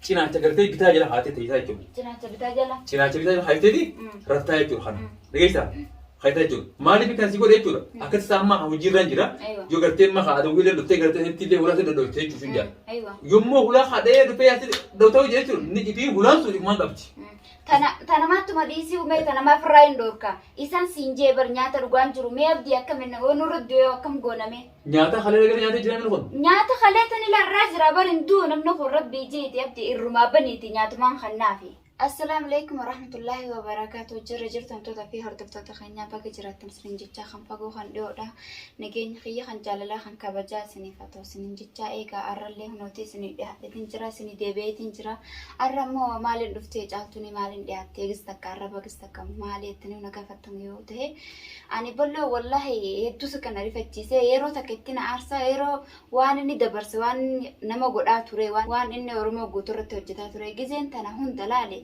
Cinaacha gartee bitaa jala kaatee teessaa jechuudha. Cinaacha bitaa jala. Cinaacha bitaa jala kaayifteeti raftaa jechuudha kana. Dhageessaa? Kaayiftaa jechuudha. Maaliif kan si godhe jechuudha? Akkatti isaa amma hojiirra hin jira. Yoo gartee amma haa adawwii illee dhuftee gartee sitti illee hulaa si dhodhoofte jechuudha sun jira. Yommuu hulaa haa dhahee dhufee yaa si dhodhoofte jechuudha ni itii hulaan sun ifumaan qabdi. Tana tanamattuma dhiisii umee tanamaa firraa hin dhoorka. Isaan siin jee bar nyaata dhugaan jiru mee abdii akkam inni oo nurra du'ee akkam goonamee. Nyaata halee lagana nyaatee jira namni kun. Nyaata halee tan ilarraa jira bar hin du'u namni kun rabbii jeeti abdi irrumaa baniiti nyaatumaan kan naafi. Assalaamu alaikum warahmatullaahi wabarakaatu jirra jirtamtoota fi hordoftoota keenyaa baga jiraattan isiniin jechaa kan fagoo kan dhiyoodha nageenya kiyya kan jaalalaa kan kabajaa isiniif haa ta'u isiniin jechaa eegaa arrallee hunooti isinii dhiyaadheetiin jira isinii deebi'eetiin jira arra immoo maaliin dhuftee caaltuunii maaliin dhiyaattee gis takka arra bagis takka maali jettanii na gaafattamu yoo ta'e Ani ballo wallahi hedduusa kana rifachiisee yeroo takka itti na aarsaa yeroo waan inni dabarse waan inni nama godhaa ture waan waan inni Oromoo guutuu irratti hojjetaa ture gizeen tana hunda laale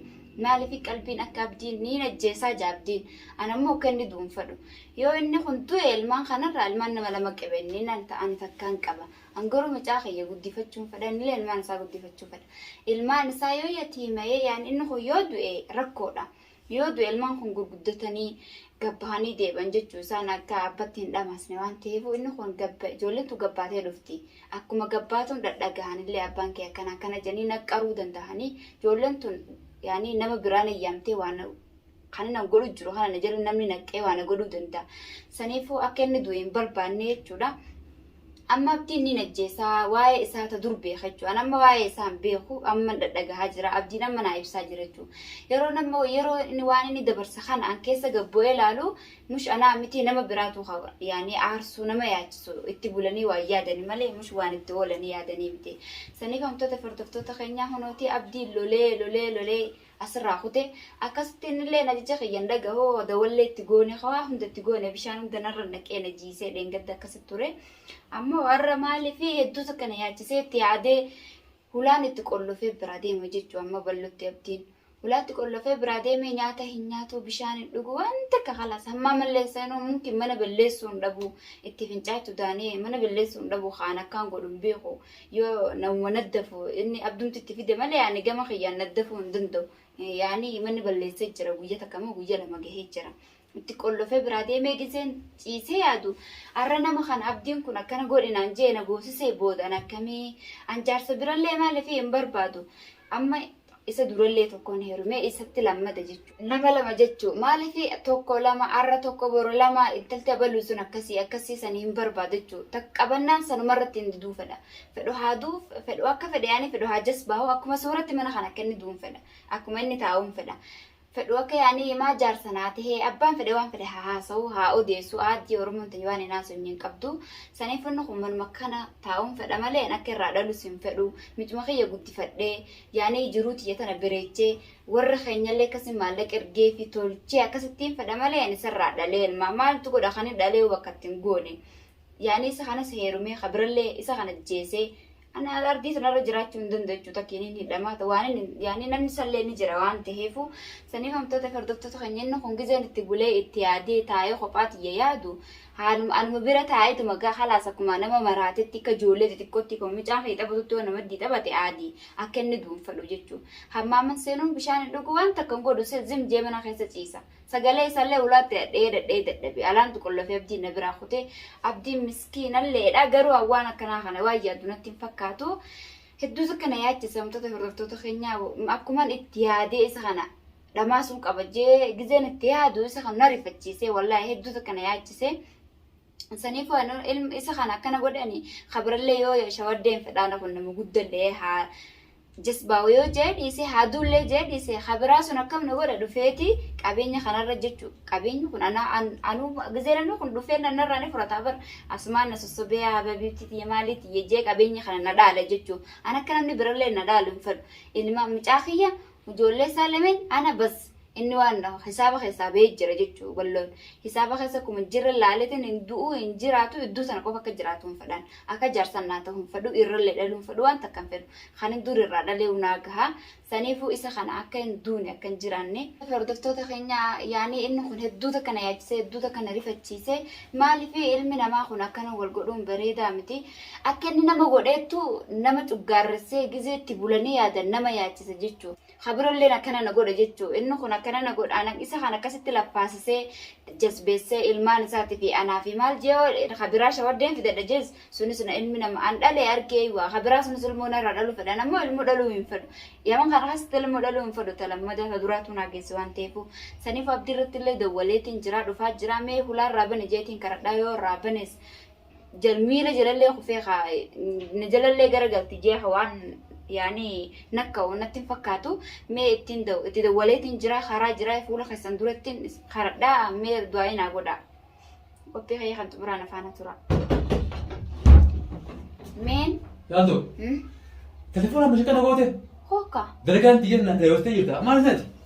maaliif qalbiin akka abdiin ni najjeesaa ja abdiin ana immoo akka inni du'uun fadhu yoo inni kun du'e ilmaan kanarraa ilmaan nama lama qaba inni naan ta'an takkaan qaba an garuu mucaa kiyya guddifachuun fadha innillee ilmaan isaa guddifachuu fadha ilmaan isaa yoo yatiimayee yaan inni kun yoo du'e rakkoodha. Yoo du'e ilmaan kun gurguddatanii gabbahanii deebi'an jechuu isaan akka abbatti hin dhamaasne waan ta'eefuu inni kun gabba ijoolleen tun gabbaatee dhufti. Akkuma gabbaatuun dhadhagahanillee abbaan kee akkana akkana jedhanii naqqaruu danda'anii ijoolleen tun yaani nama biraa na yaamtee waan kan inni godhu jiru kana na jala namni naqqee waan godhuu danda'a. Saniifuu akka inni du'e hin barbaanne jechuudha. Amma abdiin niin ajjeesa waa'ee isaa ta dur beeka jechuu an amma waa'ee isaa hin beeku amman dhadhagahaa jira abdiin amma naa ibsaa jira jechuu yeroo nama yeroo inni waan inni dabarse kana an keessa gad bu'ee laalu mush anaa miti nama biraatu ka yaanii aarsuu nama yaachisu itti bulanii waan yaadani malee mush waan itti oolanii yaadanii miti saniif amtoota fardoftoota keenyaa hunootii abdiin lolee lolee lolee asirraa kute akkasitti innillee najicha kiyyan dhagahu dawallee itti goone kawaa hunda itti goone bishaan hunda narra naqee na jiisee dheengadda akkasitti ture ammoo warra maaliif hedduu takka na yaachisee itti yaadee hulaan itti qollofee biraa deema jechuu amma ballutti abdiin hulaatti qollofee biraa deemee nyaata hin nyaatu bishaan hin dhugu waan takka kalaas hammaa malleessa inuu mumkin mana balleessuu hin dhabu itti fincaachuu daanee mana balleessuu hin dhabu kaan akkaan godhu hin beeku yoo namuma naddafu inni abdumti itti fide malee ani gama kiyyaan naddafuu hin danda'u. Eh, Yaani manni balleessee jira guyya takka moo guyya lama gahee jira. Itti qollofee biraa deemee giseen ciisee yaadu har'a nama kana abdiin kun akkana godhe naan jee na goosisee booda an akkamii an jaarsa birallee maaliif hin barbaadu. Amma Isa durallee tokkoon heerumee isatti lammata jechu. Nama lama jechu. Maaliif tokko lama har'a tokko boru lama intalti abaluun sun akkasii akkasii san hin barbaadu jechu. Takka qabannaan sanumarratti hin diduu fedha. Fedhu haa duu fedhu akka fedhe yaani fedhu haa jasbaahu akkuma sooratti mana kan akka inni duun fedha. Akkuma inni taa'uun fedha. fedhu akka yaani imaa jaarsa naa tahee abbaan fedhe waan fedhe haa haasawu haa odeessu aaddii oromoon tayyu waan hin haasofne hin qabdu saniif inni kun manuma kana taa'uun fedha malee an akka irraa dhalus hin fedhu micuma kiyya guddifadhee yaani jiruu tiyya tana bireechee warra keenyallee akkasi maallaqa ergee fi tolchee akkasittiin fedha malee ani isarraa dhalee ilmaa maaltu godha kan hin dhalee bakka ittiin goone yaani isa kanas heerumee kabirallee isa kana jeesee Ani ardii tanarra jiraachuu hin danda'u jechuudha takkiin hin hidhamaa ta'u waan inni yaani namni sallee ni jira waan ta'eefu saniif hamtoota fardoftoota keenya inni kun gizeen itti bulee itti yaadee taa'ee kophaa tiyya yaadu haaluma anuma bira taa'eetuma gaa halaas akkuma nama maraatetti akka ijoollee xixiqqootti akkuma mucaan kee taphatutti waan namaddii taphate aadii akka inni duunfadhu jechuu hammaaman seenuun bishaan hin dhugu waan takka hin godhu zim jee mana keessa ciisa Sagalee isaallee ulaatti dhadha'ee dhadha'ee dadhabe. Alaantu qollofee Abdiin na biraa kute. Abdiin miskiinalleedha. Garuu an waan akkanaa kana waan yaaddu natti hin fakkaatu. Hedduu takka na yaachisa wantoota hordoftoota keenyaa akkuman itti yaadee isa kana dhamaasuun qaba jee gizeen itti yaadu isa kan na rifachiisee wallaahi hedduu takka na yaachise. Saniifuu ani ilma isa kana akkana godhani kabirallee yoo shawaddeen fedhaana kun nama guddallee haa Jasbaawa yoo jahe dhiise haa duullee jahe dhiise ka biraa sun akkam na godha dhufeeti qabeenya kanarra jechu qabeenyi kun anaa an anuu gizee namni kun dhufee na narraa ni fudhata bar asumaan na sossobee haa babiitti tiyya maalii tiyya jee qabeenya kana na dhaala jechu an akka namni birallee na dhaalu hin fedhu ilma mucaa kiyya ijoollee isaa lameen ana bas Inni waan hisaaba keessaa bahee jira jechuu balloon. Hisaaba keessa akkuma hin jirre laaleetiin hin du'u hin jiraatu iddoo sana qofa akka jiraatu hin fedhan. Akka jaarsan naa ta'u hin fedhu irrallee dhaluu hin fedhu waan takka hin fedhu. Kan hin dur irraa dhaleewu naa gaha. Saniifuu isa kana akka hin duune akka hin jiraanne. Hordoftoota keenya yaanii inni kun hedduu takka na yaachisee hedduu takka na rifachiise. Maaliif ilmi namaa kun akkana wal godhuun bareedaa miti. Akka inni nama godheettu nama cuggaarressee gizee itti bulanii yaadan nama yaachisa jechuudha. Ka birolleen akkana na godha jechuu, inni kun akkana na godha, anan isa kan akkasitti lappaasisee, jasbeessee, ilmaan isaati fi anaa fi maal jee yoo ka biraa shawaddeen fidadha jees, sunis na ilmi nama an dhale argee iwaa, ka biraa sunis ilmoo narraa dhaluu fedha, an ammoo ilmoo dhaluu hin fedhu. Yaman kana keessatti ilmoo dhaluu hin fedhu, ta lammadaa, ta duraatuu naa geesse waan ta'eefuu. Saniifuu Abdii irrattillee dawwaleetiin jiraa, dhufaa jiraa, mee hulaa irraa bani jeetiin karadhaa, yoo irraa banes, jal miila jalallee kufee kaa na jalallee gara galti jee ka waan yaani nakka natti hin fakkaatu mee ittiin da- itti dawwaleetiin jira karaa jira fuula keessan durattiin is- karadhaa mee du'aa'ii naa godhaa qophii kayya kan xumuraan afaana tura meen Jaaltu, hmm? telefoona mashi kana goote hooka dalagaan xiyyeerna dheerottee jirta. Maal isaati?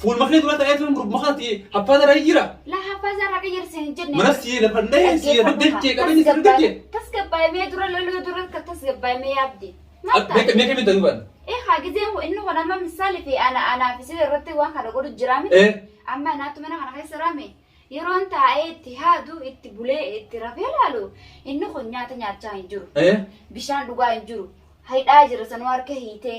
Fuul maknee dura ta'ee tuun gurbuma kanatti haffaa dara jira. La haffaa isaa raqa jirti hin jenne. Mana sii lafa dhahee sii lafa dachee qabeenya sii dachee. Tasgabbaa'imee dura loluu dura ka tasgabbaa'imee yaabdi. Meeqa meeqa meeqa duban. Eh haa gizee inni kun amma misaali fi ana anaa fi sirri irratti waan kana godhu jira miti. Eh. Amma anaatu mana kana keessa raame. Yeroon taa'ee itti haadu itti bulee itti rafee laalu inni kun nyaata nyaachaa hin jiru. Eh. Bishaan dhugaa hin jiru. Haidhaa jira sanuu harka hiitee.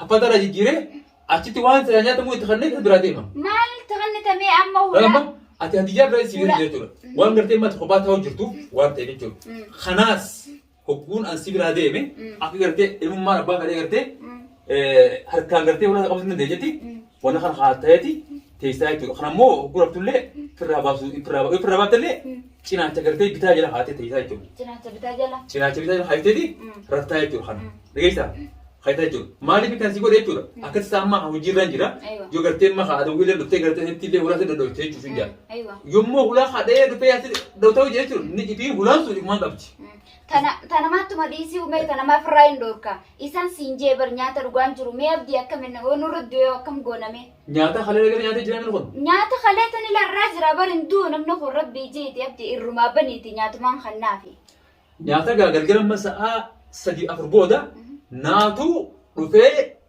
Haffata irraa jijjiiree achitti waan silaa nyaatamu itti kanneen kan biraa deema. Maal itti kannitamee amma Amma hula? ati hadiyyaa biraa si Hula. jechuudha. Waan gartee mata kophaa ta'uu jirtu waan ta'eef jechuudha. Kanaas hogguun an si biraa deeme akka gartee ilmummaan abbaa kadhee gartee eh, harkaan gartee ulaa qabachuu dandeenyetti Wanna kana haa ta'eeti teessaa jechuudha. Kana immoo hogguu raftullee firraa baasuu hin firraa baasuu. Firraa baattellee cinaacha gartee bitaa jala haatee teessaa jechuudha. Cinaacha bitaa jala. Cinaacha bitaa jala haatteeti raftaa jechuudha kana. Dhageessaa? Haatee jechuudha. Maaliif kan si godhe jechuudha? Akkatti isaa amma hojiirra hin jira. Yoo gartee amma haa adawwii illee dhuftee gartee heddii illee hulaa si dadhabte jechuudha hin jira. Yommuu hulaa haa dha'ee dhuftee yaa si dhawtaa hojii jechuudha. Ni ifii hulaan sun ifumaan qabdi. Tana tana mattuma dhiisii umee tana maaf irraa hin dhoorka. Isaan siin jee bar nyaata dhugaan jiru mee abdii akkamin oo nurra du'ee akkam gooname. Nyaata halee dhagala nyaatee jiraa namni kun. Nyaata halee tan ilarraa jira bar hin du'u namni kun rabbii jeeti abdii irrumaa baniiti nyaatumaan kannaafi. Nyaata gaa galgala amma sa'aa sadii afur booda naatu dhufee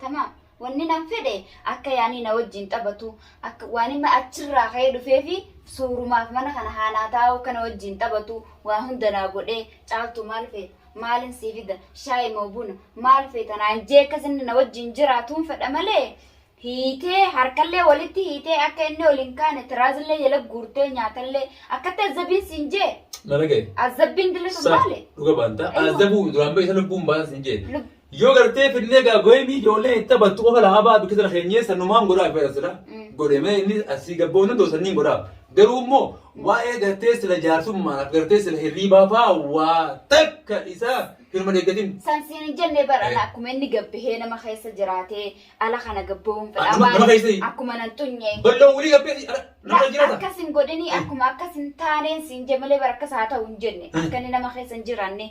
Tamaam. Wannin an fedhe akka yaanii na wajjiin taphatu, akka waanima achirraa ka'ee dhufeefi suurumaaf mana kana haa naa taa'u akka na wajjiin taphatu waa hunda naa godhee Caaltuu maal feeta? Maalin sii fida? Shaayi moo buna? Maal feeta naan jee akkas inni na wajjiin jiraatuun fedha malee hiitee harkallee walitti hiitee akka inni ol hin kaane tiraazillee jala guurtee nyaatallee akkatti azzabiin siin jee Na dhagaye. azzabbiin dilli sun Sa maali? dhuga baanta. Aywa. Azabu duraan beekta lubbuun baasa sin jeete. Lub- Yoo gartee finnee gaa goyimii ijoollee itti taphattu qofa lahaa ba'a bikka sana keenyee sanumaan godhaaf jedha sila. Godhemee inni asii gabboo inni dosa inni godhaaf. Garuu immoo waa'ee gartee sila jaarsummaadhaaf gartee sila hirriibaa faa waa takka isaa hirma deeggatin. San siin hin jenne bara Eh. akkuma inni gabbahee nama keessa jiraatee ala kana gabbawuun Ah, fedha. nama- nama keessa hin- Akkuma nan xunye. Balloon wulii gabbee si- ala- nama jiraata. Akkas hin godhini akkuma akkas hin taaneen siin jemalee bara akkas haa ta'u hin jenne. Akka inni nama keessa hin jiraanne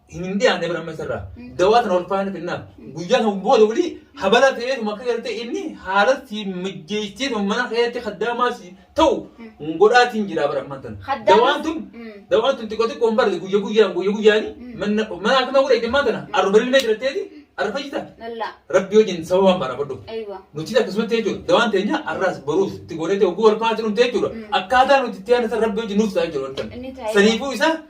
hin dhiyaanne bira amma isarraa dawaa tana ulfaa'ina kennaaf guyyaa kan booda wali habala ta'eetu makka galtee inni haala si mijjeessee sun mana keessatti kaddaamaa si ta'u godhaatiin jira bara amma tana Kaddaamaa- dawaan tun Mm. dawaan tun xiqqoo xiqqoo hin barre guyya guyyaan guyya guyyaani mana mana akkuma godhe jimmaa tana arba ilmee jiratteeti arba jita Lalla. rabbi wajjin sababaan barabadhu Aywa. nuti akkasumatti jechuudha dawaan teenya arraas baruus itti goonee ta'e oguu walfaana jedhamte jechuudha akkaataa nuti itti aannan rabbi wajjin nuuf ta'a jechuudha Inni taa'ee- saniifuu isaa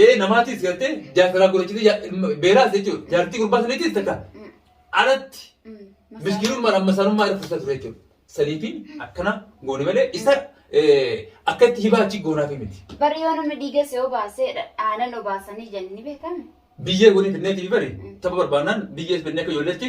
Ee namaatis gartee jaarsaraa godhachitee ja- ilma- beeraas jechuudha. Jaartii gurbaa saniitis takka alatti miskiinummaan amma sanummaa irra fursaa ture jechuudha. Saniifi akkana goone malee isa eh, akka itti hibaa achi goonaaf miti. Bari yoo namni dhiiga si obaasee aanan obaasanii jenni beekame. Biyyee godhee fidneetii bari tapha barbaannaan biyyee fidnee akka ijoolleetti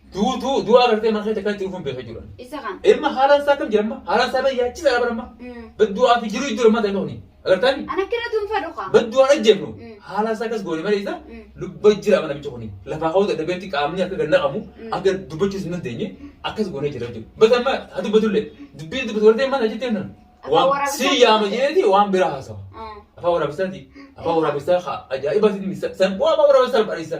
duutu du'a agartee maal keessa kaatti dhufuun beekaa jiran. Isa kan. Ilma haalaan isaa kam jedhama haalaan isaa bee yaachi isaa barama baddu'aa fi jiru iddoo lammaa ta'e ta'uni agartaan An akkana tunfa dhuka. baddu'aa dhajjefnu Mm. haalaan isaa akkas goone malee isa Mm. lubba jira mana bicha kuni lafaa ka'uu dadhabeetti qaamni akka ganna qabu Mm. akka dubbachuus hin dandeenye akkas goone jira jechuudha. Bata amma haa dubbatullee dubbiin dubbatu wartee maal ajjettee nan Afaan waan waraabessaa sii yaama dubbate. jeeti waan biraa haasawa. Afaan waraabessaati. Afaan waraabessaa haa ajaa'iba siin misa. San bu'aa afaan waraabessaa barreessa.